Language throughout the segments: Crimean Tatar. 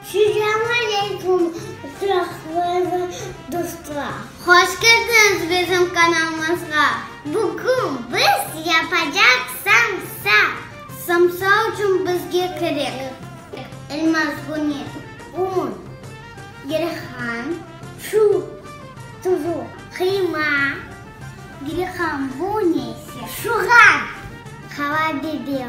Selam aleykum qıraqlarlı dostlar. Hoş keldiñiz bizim kanalımızğa. Bugün biz yapacaq samsa. Samsa uçün bizge kerek. Elmaz, bune, un, gerehan, su, tuzu, qıyma, gerehan, bune ise şuğan, qava biber.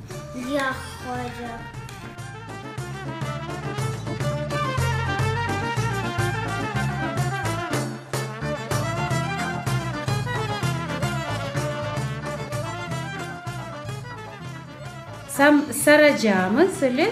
Yoq, hoca. Sam saracamız, ele?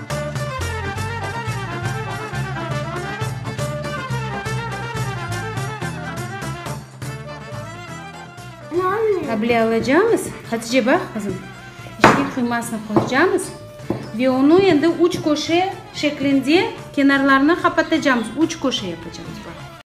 Able alacamız, Hatice, baq qızım, içine qıymasını qoyacamız ve onı endi üç köşe şeklinde kenarlarına qapatacamız, üç köşe yapacamız.